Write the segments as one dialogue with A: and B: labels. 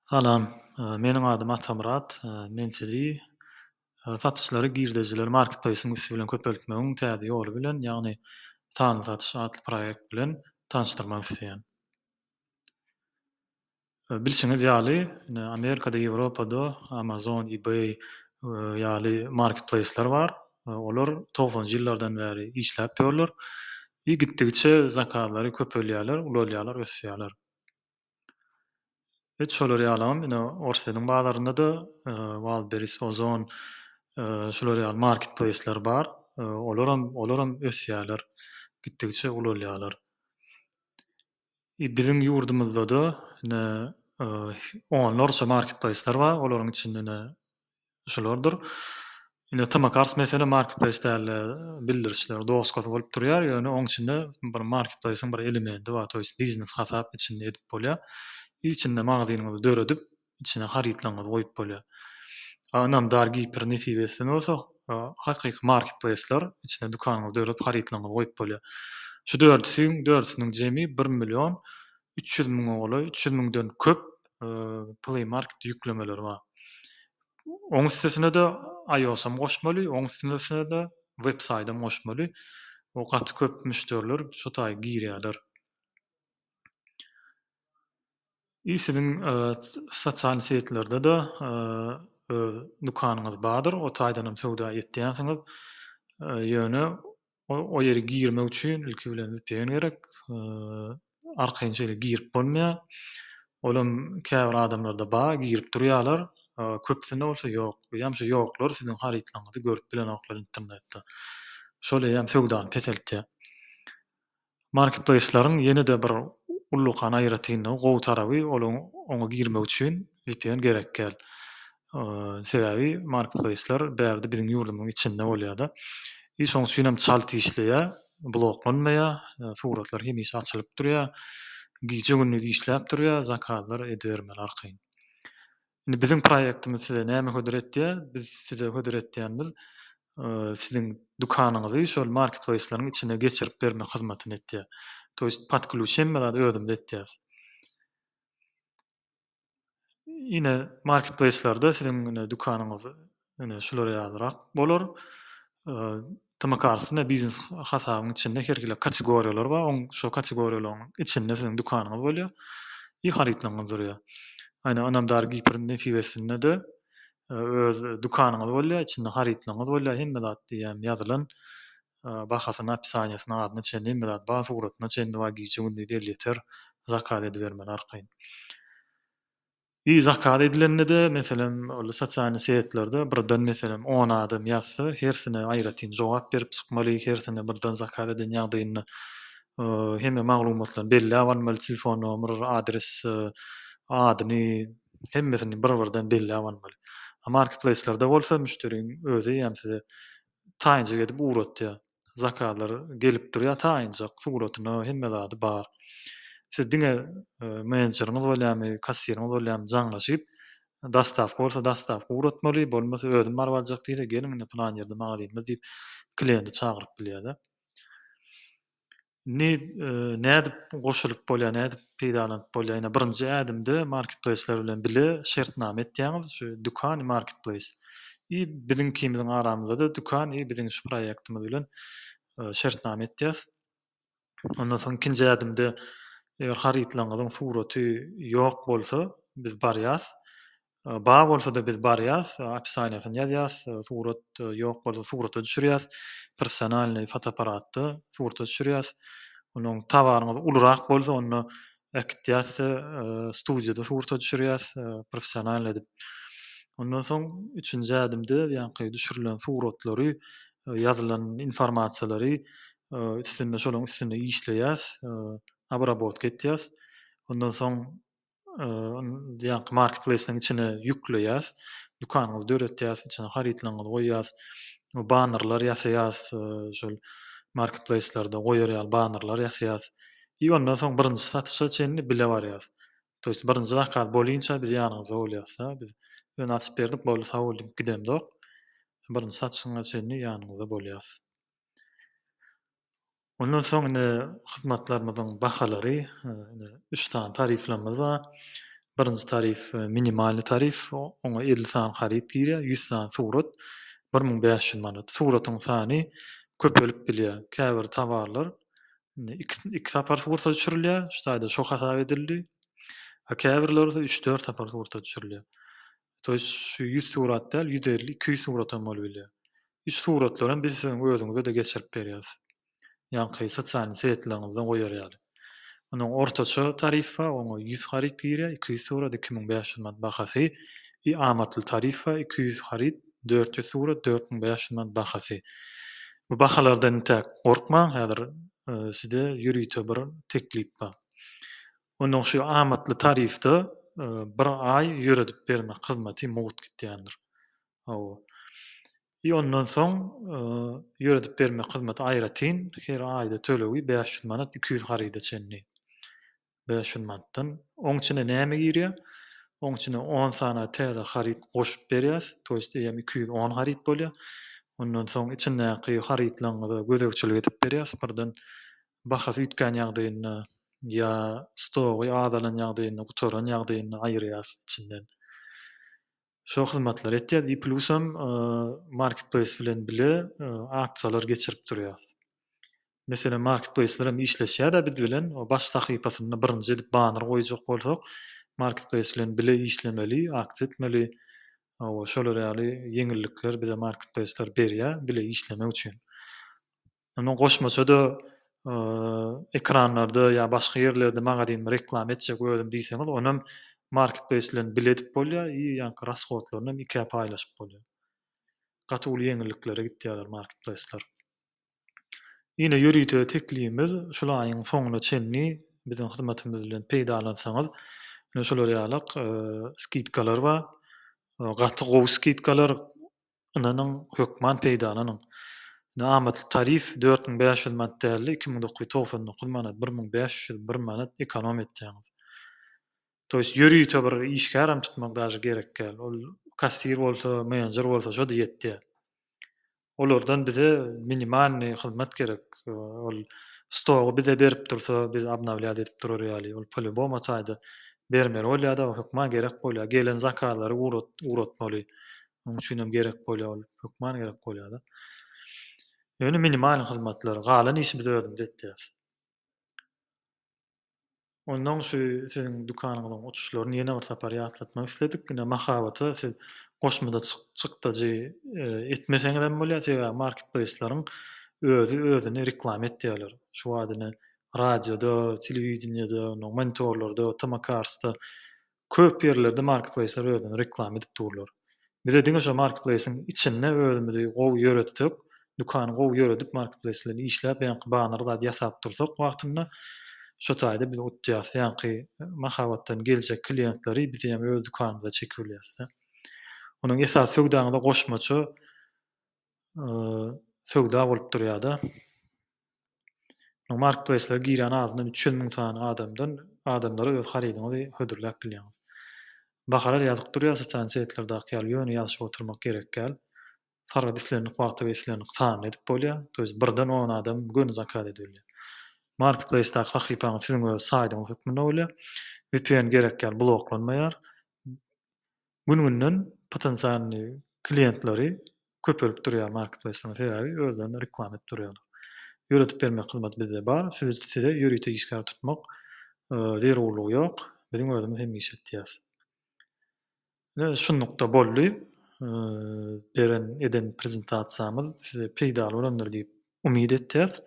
A: Salam. Meniň adym Atamyrat. Men sizi satyşlary girdejileri marketplace-iň üsti bilen köpeltmegiň täze ýoly bilen, ýagny sanly satyş atly proýekt bilen tanyşdyrmak isleýän. Bilşiňiz ýaly, indi Amerikada, Ýewropada Amazon, Ebay ýaly marketplace-ler bar. Olar togsanjy ýyllardan bäri işläp ýörler. I gitdigiçe zakazlary köpelýärler, ulalýarlar, ösýärler. Hut şolar ýalam ine Orsýetiň bazarynda-da Wildberries, Ozon şular ýaly marketplaýsler bar. Olaram olaram ösýärler, gitdigiçe ulalýarlar. Biziň ýurdumyzda-da ine onlarça marketplaýslar bar. Olaryň içinde ine şulardyr. Ine Tamakars meselem marketplaýs däldi. Bildirişler, doska bolup durýar, ýöne oň içinde bir marketplaýsyň bir elemendi bar, toýs biznes hasap içinde edip bolýar. Ilçinde magazynyňyzy döredip, içine harytlaryňyzy goýup bolýar. Ynam dar Gipr nesibesinden bolsa hakyky marketplace-ler içine dükanyňyzy döredip harytlaryňyzy goýup bolýar. Şu dördüsiň dördüsiniň jemi bir million üç ýüz müňe golaý, üç ýüz müňden köp Play Market ýüklemeleri bar. Oň üstesine-de iOS-am goşmaly, oň üstesine-de web saýdam goşmaly. Gaty köp müşderiler şo taýy girýärler. I siziň sosial setlerde-de öz dükanyňyz bardyr, o taýdanam söwda etýänsiňiz. Ýöne o ýere girmek üçin ilki bilen vpn gerek. Arkaýyn şeýle girip bolmaýar. Olam käbir adamlarda bar, girip durýarlar. Köpüsinde bolsa ýok. Eýýäm şu ýoklar siziň harytlaryňyzy görüp bilenoklar internetde. Şol eýýäm söwdany peseltýär. Marketplaýslaryň ýene-de bir ullakan aýratynlygy, gowy taraby, olaň oňa girmek üçin vpn gerek däl. Sebäbi marketplaýslar bärde biziň ýurdumyzyň içinde bolýar-da. I şoň üçin hem çalt işleýär, bloklanmaýar, suratlar hemişe açylyp durýar, gije-gündiz işläp durýar, zakazlar edibermeli arkaýyn. Indi biziň proýektimiz size näme hödür etýär? Biz size hödür etýänimiz siziň dükanyňyzy şol marketplaýsleriň içine geçirip bermek hyzmatyny etýär. To ýest pod klýuç hemme zady özümiz etýäris. Ine marketplaýslerde siziň dükanyňyz Ine, şular ýalyrak bolar. TM kartysynda biznes hasabyň içinde her hili kategoriýalar bar. Oň şol kategoriýalaryň içinde siziň dükanyňyz bolýar. I harytlaryňyz durýar. Aýna Ynamdar Gipr nesibesinde-de öz dükanyňyz bolýar, içinde harytlaryňyz bolýar, hemme zat diýýän ýazylan. Bahasyny, opisaniýasyny, adyna çenli hemme zat bar, suratyna çenli bar, gije-gündiz elýeter zakaz edibermeli arkaýyn. Ýi zakaz edilende-de, meselem, ol sosialnyý setlerde birden, meselem, on adam ýazsa, hersine aýratyn jogap berip çykmaly, hersine birden zakaz eden ýagdaýynda hemme maglumatlaryny belläp almaly, telefon nomer, adres, adyny, hemmesini bir-birden belläp almaly. Marketplace-lerde bolsa müşderiniň özi hem size taýynçylyk edip ugratýar. zakazlar gelip durýar taýynjak suratyna hemme zady bar. Siz diňe menejeriňiz bolýarmy, kassiriňiz bolýarmy jaňlaşyp dostawka bolsa dostawka ugratmaly bolmasa özüm baryp aljak diýse geliň indi pylan ýerde magazynymyz diýip kliýenti çagyryp bilýärler. Indi nädip goşulyp bolýar, nädip peýdalanyp bolýar? Ýene birinji ädimde marketplaýsler bilen bile şertnama etýäňiz, şu dükan we marketplaýs. I biziňkimiziň aramyzda-da dükan i biziň şu proýektimiz bilen şertnama etýäs. Ondan soň ikinji ädimde eger harytlaryňyzyň suraty ýok bolsa, biz barýas. Bar bolsa-da biz barýas, opisaniýasyny ýazýas, surat ýok bolsa surata düşürýäs, professionalnyý fotoapparatda surata düşürýäs. Onuň tawaryňyz ulurak bolsa onda äkitýäs de studiýada surata düşürýäs, professionalnyý edip. Ondan soň üçünji ädimde ýaňky düşürilen suratlary, ýazylan informasiýalary üstünde şolaryň üstünde işleýäs, abrabotka etýäs. Ondan soň ýaňky marketplace-iň içine ýükleýäs, dükanyňyzy döretýäs, içine harytlaryňyzy goýýas, banerler ýasaýas, şol marketplace-lerde goýar ýaly banerler ýasaýas i ondan soň birinji satyşa çenli bile barýas. To ýest birinji zakaz bolinça biz ýanyňyzda bolýas-da, biz ýöne açyp berdik, boldy sag bol diýip gidemzok. Birinji satyşyňa çenli ýanyňyzda bolýas. Ondan soň indi hyzmatlarymyzyň bahalary, indi üç sany tariflerimiz bar. Birinji tarif, minimalnyý tarif, oňa elli sany haryt girýär, ýüz sany surat, bir müň bäş ýüz manat. Suratyň sany köpelip bilýär. Käbir towarlar indi iki, iki sapar surata düşürilýär, şu taýda şo hasap edildi. Käbirleri bolsa üç-dört sapar surata düşürilýär. to ýest şu ýüz surat däl ýüz elli iki ýüz surat hem bolup bilýär üç suratlaram biz siziň özüňizede geçirip berýäs ýaňky sosialny setleriňizden goýar ýaly onuň ortaça tarif bar oňa ýüz haryt girýär iki ýüz surat iki müň bäş ýüz manat bahasy i amatly tarif bar iki ýüz haryt dört ýüz surat dört müň bäş ýüz manat bahasy bu bahalardan intäk gorkmaň häzir size ýörite bir teklip bar Onuň şu amatly tarifde bir aý ýöredip bermek hyzmaty mugt gitýändir. Hawa. I ondan soň ýöredip bermek hyzmaty aýratyn her aýda tölegi bäş ýüz manat iki ýüz haryda çenli. Bäş ýüz manatdan. Oň içine näme girýär? Oň içine on sany täze haryt goşup berýäs. To ýest eýýäm iki ýüz on haryt bolýar. Ondan soň içindäki harytlaryňyza gözegçilik edip berýäs. Birden bahasy üýtgän ýagdaýynda ýa stogy azalan ýagdaýynda, gutaran ýagdaýynda aýyrýas içinden. Şo hyzmatlary etýäs i plusam marketplace bilen bile aksiýalar geçirip durýas. Meselem marketplaceler hem işleşýädä biz bilen o baş sahypasynda birinji edip banner goýjak bolsak marketplace bilen bile işlemeli aksiýa etmeli şolar ýaly ýeňillikler bize marketplaceler berýä bile işlemek üçin. Ondan goşmaça-da ekranlarda ýa başga ýerlerde magazynymy reklama etjek özüm diýseňiz, ony hem marketplace bilen bile edip bolýar i ýaňky rashodlaryny hem ikä paýlaşyp bolýar. Gaty uly ýeňilliklere gitýärler marketplaceler. Ine ýörite teklibimiz şul aýyň soňuna çenli biziň hyzmatymyz bilen peýdalansaňyz ine şular ýalak skidkalar bar. Gaty gowy skidkalar ynanyň, hökman peýdalanyň. Indi amatly tarif dört müň bäş ýüz manat däldi, iki müň dokuz ýüz togsan dokuz manat, bir müň bäş ýüz bir manat ekonom etýäňiz. To ýest ýörite bir işgärem tutmak daşy gerek däl. Ol kassir bolsa, menedjer bolsa şo-da ýetýär. Olardan bize minimalnyý hyzmat gerek. Ol stogy bize berip dursa, biz obnawlýas edip durar ýaly. Ol polýubomu taýda bermeli bolýar-da, hökman gerek bolýar. Gelen zakazlary ugratmaly. Onuň üçin hem gerek bolýar ol, hökman gerek bolýar-da. Ýöne minimal hyzmatlar, galan işi biz özümiz etýäris. Ondan şu siziň dükanyňyzyň uçuşlaryny ýene bir sapar ýatlatmak isledik. Ine, mahabata siz goşmada çykdajy e, etmeseňiz hem bolýar, sebäbi marketplaýslaryň özi özüni reklama etýärler. Şu wagt ine radioda, telewideniýede, monitorlarda, Tamakarsda Köp ýerlerde marketplaýslar özlerini reklama edip durlar. Bize diňe şo marketplaýsyň içinde özümizi gowy ýöretsek, dükany gowy ýöredip marketplaýs bilen işläp ýaňky banar zady ýasap dursak wagtynda şo taýda biz utýas. Ýaňky mahabatdan geljek kliýentleri biz hem öz dükanymyza çekibilýäs-de. Onuň esasy söwdaňyza goşmaça söwda bolup durýar-da. Markpleýslere girýän azyndan üç ýüz müň sany adamdan adamlara öz harydyňyzy hödürläp bilýäňiz. Bahalar ýazyp durýar sosial setlerdäki ýaly, ýöne ýazyşyp oturmak gerek däl. Sargyt islendik wagtda we islendik sanda edip bolýar, to ýest birden on adam göni zakaz edip bilýär. Markpleýsdäki sahypaňyz siziň öz saýdyňyz hökmünde bolýar. Vpn gerek däl, bloklanmaýar. Gün-günden potensialnyý kliýentleri köpelip durýar marketplace-laryň, sebäbi özlerini reklama edip durýarlar. Ýöretip bermek hyzmaty bizde bar, size ýörite işgär tutmak zerurlygy ýok, biziň özümiz hem iş etýäs. Ine, şunlukda boldy beren, eden prezentasiýamyz size peýdaly bolandyr diýip umyt etýäs.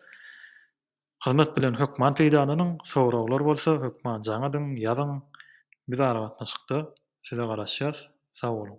A: Hyzmat bilen hökman peýdalanyň, soraglar bolsa hökman jaň ediň, ýazyň. Biz aragatnaşykda size garaşýas. Sag boluň.